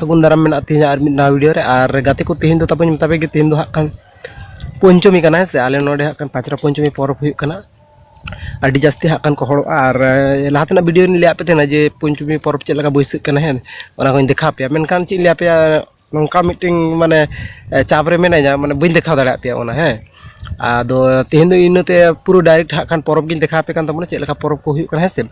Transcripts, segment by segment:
ᱥᱟᱹᱜᱩᱱ ᱫᱟᱨᱟᱢ ᱢᱮᱱᱟᱜᱼᱟ ᱛᱮᱦᱮᱧ ᱟᱨ ᱢᱤᱫ ᱱᱟᱣᱟ ᱵᱷᱤᱰᱤᱭᱳ ᱨᱮ ᱟᱨ ᱜᱟᱛᱮ ᱠᱚ ᱛᱮᱦᱮᱧ ᱫᱚ ᱛᱟᱯᱚᱨ ᱢᱮᱛᱟ ᱯᱮ ᱜᱮ ᱛᱮᱦᱮᱧ ᱫᱚ ᱦᱟᱸᱜ ᱠᱷᱟᱱ ᱯᱚᱧᱪᱚᱢᱤ ᱠᱟᱱᱟ ᱦᱮᱸ ᱥᱮ ᱟᱞᱮ ᱱᱚᱰᱮ ᱦᱟᱸᱜ ᱠᱷᱟᱱ ᱯᱟᱸᱪᱨᱟ ᱯᱚᱧᱪᱚᱢᱤ ᱯᱚᱨᱚᱵᱽ ᱦᱩᱭᱩᱜ ᱠᱟᱱᱟ ᱟᱹᱰᱤ ᱡᱟᱹᱥᱛᱤ ᱦᱟᱸᱜ ᱠᱷᱟᱱ ᱠᱚ ᱦᱚᱲᱚᱜᱼᱟ ᱟᱨ ᱞᱟᱦᱟ ᱛᱮᱱᱟᱜ ᱵᱷᱤᱰᱤᱭᱳ ᱞᱤᱧ ᱞᱟᱹᱭᱟᱫ ᱯᱮ ᱛᱟᱦᱮᱱᱟ ᱡᱮ ᱯᱚᱧᱪᱚᱢᱤ ᱯᱚᱨᱚᱵᱽ ᱪᱮᱫ ᱞᱮᱠᱟ ᱵᱟᱹᱭᱥᱟᱹᱜ ᱠᱟᱱᱟ ᱦᱮᱸ ᱚᱱᱟ ᱠᱚᱧ ᱫᱮᱠᱷᱟᱣ ᱯᱮᱭᱟ ᱢᱮᱱᱠᱷᱟᱱ ᱪᱮᱫ ᱤᱧ ᱞᱟᱹᱭ ᱟᱯᱮᱭᱟ ᱱᱚᱝᱠᱟ ᱢᱤᱫᱴᱮᱱ ᱢᱟᱱᱮ ᱪᱟᱯ ᱨᱮ ᱢᱮᱱᱟᱹᱧᱟ ᱢᱟᱱᱮ ᱵᱟᱹᱧ ᱫᱮᱠᱷᱟᱣ ᱫᱟᱲᱮᱭᱟᱜ ᱯᱮᱭᱟ ᱚᱱᱟ ᱦᱮᱸ ᱟᱫᱚ ᱛᱮᱦᱮᱧ ᱫᱚ ᱤᱱᱟᱹᱛᱮ ᱯᱩᱨᱟᱹ ᱰᱟᱭᱨᱮᱠᱴ ᱦᱟᱸᱜ ᱠᱷᱟᱱ ᱯᱚᱨᱚᱵᱽ ᱜᱤᱧ ᱫᱮᱠᱷᱟᱣ ᱟᱯᱮ ᱠᱟᱱ ᱛᱟᱵᱚᱱᱟ ᱪᱮᱫ ᱞᱮᱠᱟ ᱯᱚᱨᱚᱵᱽ ᱠᱚ ᱦᱩᱭᱩᱜ ᱠᱟᱱᱟ ᱦᱮᱸ ᱥᱮ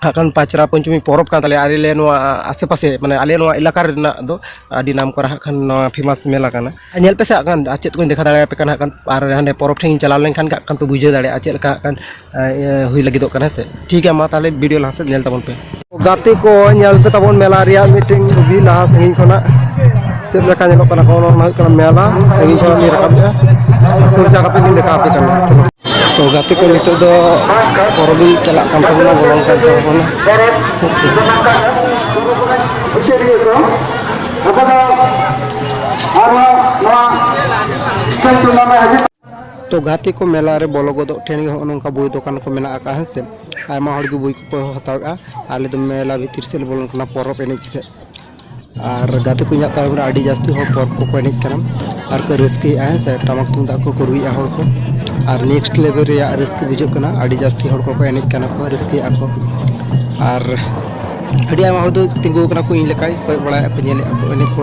ᱦᱟᱸᱜ ᱯᱟᱪᱨᱟ ᱯᱚᱧᱪᱚᱢᱤ ᱯᱚᱨᱚᱵᱽ ᱠᱟᱱ ᱛᱟᱞᱮᱭᱟ ᱟᱞᱮ ᱱᱚᱣᱟ ᱟᱥᱮ ᱯᱟᱥᱮ ᱢᱟᱱᱮ ᱟᱞᱮ ᱱᱚᱣᱟ ᱮᱞᱟᱠᱟ ᱨᱮᱱᱟᱜ ᱫᱚ ᱟᱹᱰᱤ ᱱᱟᱢ ᱠᱚᱨᱟ ᱦᱟᱸᱜ ᱠᱷᱟᱱ ᱱᱚᱣᱟ ᱯᱷᱮᱢᱟᱥ ᱢᱮᱞᱟ ᱠᱟᱱᱟ ᱧᱮᱞ ᱯᱮᱥᱮ ᱦᱟᱸᱜ ᱠᱷᱟᱱ ᱟᱨ ᱪᱮᱫ ᱠᱚᱧ ᱫᱮᱠᱷᱟᱣ ᱫᱟᱲᱮᱭᱟᱯᱮ ᱠᱟᱱᱟ ᱦᱟᱸᱜ ᱠᱷᱟᱱ ᱟᱨ ᱦᱟᱸᱰᱮ ᱯᱚᱨᱚᱵᱽ ᱴᱷᱮᱱᱤᱧ ᱪᱟᱞᱟᱣ ᱞᱮᱱᱠᱷᱟᱱ ᱜᱮ ᱦᱟᱸᱜ ᱠᱷᱟᱱ ᱯᱮ ᱵᱩᱡᱷᱟᱹᱣ ᱫᱟᱲᱮᱭᱟᱜᱼᱟ ᱪᱮᱫ ᱞᱮᱠᱟ ᱦᱟᱸᱜ ᱠᱷᱟᱱ ᱦᱩᱭ ᱞᱟᱹᱜᱤᱫᱚᱜ ᱠᱟᱱᱟ ᱦᱮᱸ ᱥᱮ ᱴᱷᱤᱠ ᱜᱮᱭᱟ ᱢᱟ ᱛᱟᱦᱚᱞᱮ ᱵᱷᱤᱰᱤᱭᱳ ᱞᱟᱦᱟ ᱥᱮᱫ ᱧᱮᱞ ᱛᱟᱵᱚᱱ ᱯᱮ ᱜᱟᱛᱮ ᱠᱚ ᱧᱮᱞ ᱯᱮ ᱛᱟᱵᱚᱱ ᱢᱮᱞᱟ ᱨᱮᱭᱟᱜ ᱢᱤᱫᱴᱮᱱ ᱪᱷᱚᱵᱤ ᱞᱟᱦᱟ ᱥᱟᱺᱜᱤᱧ ᱠᱷᱚᱱᱟᱜ ᱪᱮᱫ ᱞᱮᱠᱟ ᱧᱮᱞᱚᱜ ᱠᱟᱱᱟ ᱠᱚ ᱚᱱᱟ ᱦᱩᱭᱩᱜ ᱠᱟᱱᱟ ᱢᱮᱞᱟ ᱥᱟᱺᱜᱤᱧ ᱠᱷᱚᱱᱟᱜ ᱞᱤᱧ ᱨᱟᱠᱟᱵᱮᱜᱼᱟ ᱠᱷᱚᱨᱪᱟ ᱠᱟᱛᱮ ᱞᱤᱧ ᱫᱮᱠᱷᱟᱣ ᱟᱯᱮ ᱠᱟᱱᱟ ᱛᱚ ᱜᱟᱛᱮ ᱠᱚ ᱱᱤᱛᱚᱜ ᱫᱚ ᱯᱚᱨᱚᱵᱽ ᱪᱟᱞᱟᱜ ᱠᱟᱱ ᱛᱟᱵᱚᱱᱟ ᱵᱚᱞᱚᱱ ᱠᱟᱱ ᱛᱟᱵᱚᱱᱟ ᱛᱚ ᱜᱟᱛᱮ ᱠᱚ ᱢᱮᱞᱟ ᱨᱮ ᱵᱚᱞᱚ ᱜᱚᱫᱚᱜ ᱴᱷᱮᱱ ᱜᱮ ᱦᱚᱸᱜᱼᱚ ᱱᱚᱝᱠᱟ ᱵᱳᱭ ᱫᱚᱠᱟᱱ ᱠᱚ ᱢᱮᱱᱟᱜ ᱟᱠᱟᱫᱼᱟ ᱦᱮᱸ ᱥᱮ ᱟᱭᱢᱟ ᱦᱚᱲ ᱜᱮ ᱵᱳᱭ ᱠᱚᱠᱚ ᱦᱟᱛᱟᱣᱮᱫᱼᱟ ᱟᱞᱮ ᱫᱚ ᱢᱮᱞᱟ ᱵᱷᱤᱛᱤᱨ ᱥᱮᱫ ᱞᱮ ᱵᱚᱞᱚᱱ ᱠᱟᱱᱟ ᱯᱚᱨᱚᱵᱽ ᱮᱱᱮᱡ ᱥᱮᱫ ᱟᱨ ᱜᱟᱛᱮ ᱠᱚ ᱤᱧᱟᱹᱜ ᱛᱟᱭᱚᱢ ᱨᱮ ᱟᱹᱰᱤ ᱡᱟᱹᱥᱛᱤ ᱦᱚᱲ ᱯᱚᱨᱚᱵᱽ ᱠᱚᱠᱚ ᱮᱱᱮᱡ ᱠᱟᱱᱟ ᱟᱨ ᱠᱚ ᱨᱟᱹᱥᱠᱟᱹᱭᱮᱫᱼᱟ ᱦᱮᱸ ᱥᱮ ᱴᱟᱢᱟᱠ ᱛᱩᱢᱫᱟᱜ ᱠᱚᱠᱚ ᱨᱩᱭᱮᱫᱼᱟ ᱦᱚᱲ ᱠᱚ ᱟᱨ ᱱᱮᱠᱥᱴ ᱞᱮᱵᱮᱞ ᱨᱮᱭᱟᱜ ᱨᱟᱹᱥᱠᱟᱹ ᱵᱩᱡᱷᱟᱹᱜ ᱠᱟᱱᱟ ᱟᱹᱰᱤ ᱡᱟᱹᱥᱛᱤ ᱦᱚᱲ ᱠᱚᱠᱚ ᱮᱱᱮᱡ ᱠᱟᱱᱟ ᱠᱚ ᱨᱟᱹᱥᱠᱟᱹᱭᱮᱫᱼᱟ ᱠᱚ ᱟᱨ ᱟᱹᱰᱤ ᱟᱭᱢᱟ ᱦᱚᱲ ᱫᱚ ᱛᱤᱸᱜᱩ ᱟᱠᱟᱱᱟ ᱠᱚ ᱤᱧ ᱞᱮᱠᱟ ᱠᱚᱭᱚᱜ ᱵᱟᱲᱟᱭᱮᱫᱼᱟ ᱠᱚ ᱧᱮᱞᱮᱫᱼᱟ ᱠᱚ ᱮᱱᱮᱡ ᱠᱚ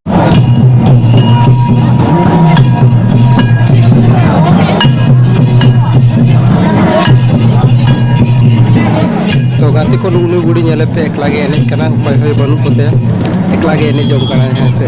ᱛᱚ ᱜᱟᱛᱮ ᱠᱚ ᱱᱩᱜ ᱱᱩᱭ ᱜᱩᱲᱤ ᱧᱮᱞᱮ ᱯᱮ ᱮᱠᱞᱟ ᱜᱮ ᱮᱱᱮᱡ ᱠᱟᱱᱟ ᱚᱠᱚᱭ ᱦᱚᱸ ᱵᱟᱹᱱᱩᱜ ᱠᱚᱛᱮ ᱮᱠᱞᱟ ᱜᱮ ᱮᱱᱮᱡ ᱡᱚᱝ ᱠᱟᱱᱟ ᱦᱮᱸ ᱥᱮ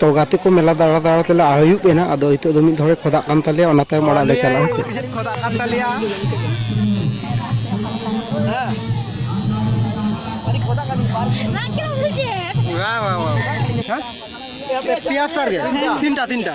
ᱛᱚ ᱜᱟᱛᱮ ᱠᱚ ᱢᱮᱞᱟ ᱫᱟᱬᱟ ᱫᱟᱬᱟ ᱛᱮᱞᱮ ᱟᱹᱭᱩᱵ ᱮᱱᱟ ᱟᱫᱚ ᱱᱤᱛᱚᱜ ᱫᱚ ᱢᱤᱫ ᱫᱷᱚᱨᱮ ᱠᱷᱚᱫᱟᱜ ᱠᱟᱱ ᱛᱟᱞᱮᱭᱟ ᱚᱱᱟ ᱛᱟᱭᱚᱢ ᱚᱲᱟᱜ ᱞᱮ ᱪᱟᱞᱟᱜᱼᱟ ᱦᱮᱸ ᱥᱮ ᱠᱷᱚᱫᱟᱜ ᱠᱟᱱ ᱛᱟᱞᱮᱭᱟ ᱯᱮᱭᱟ ᱥᱴᱟᱨ ᱜᱮ ᱛᱤᱱᱴᱟ ᱛᱤᱱᱴᱟ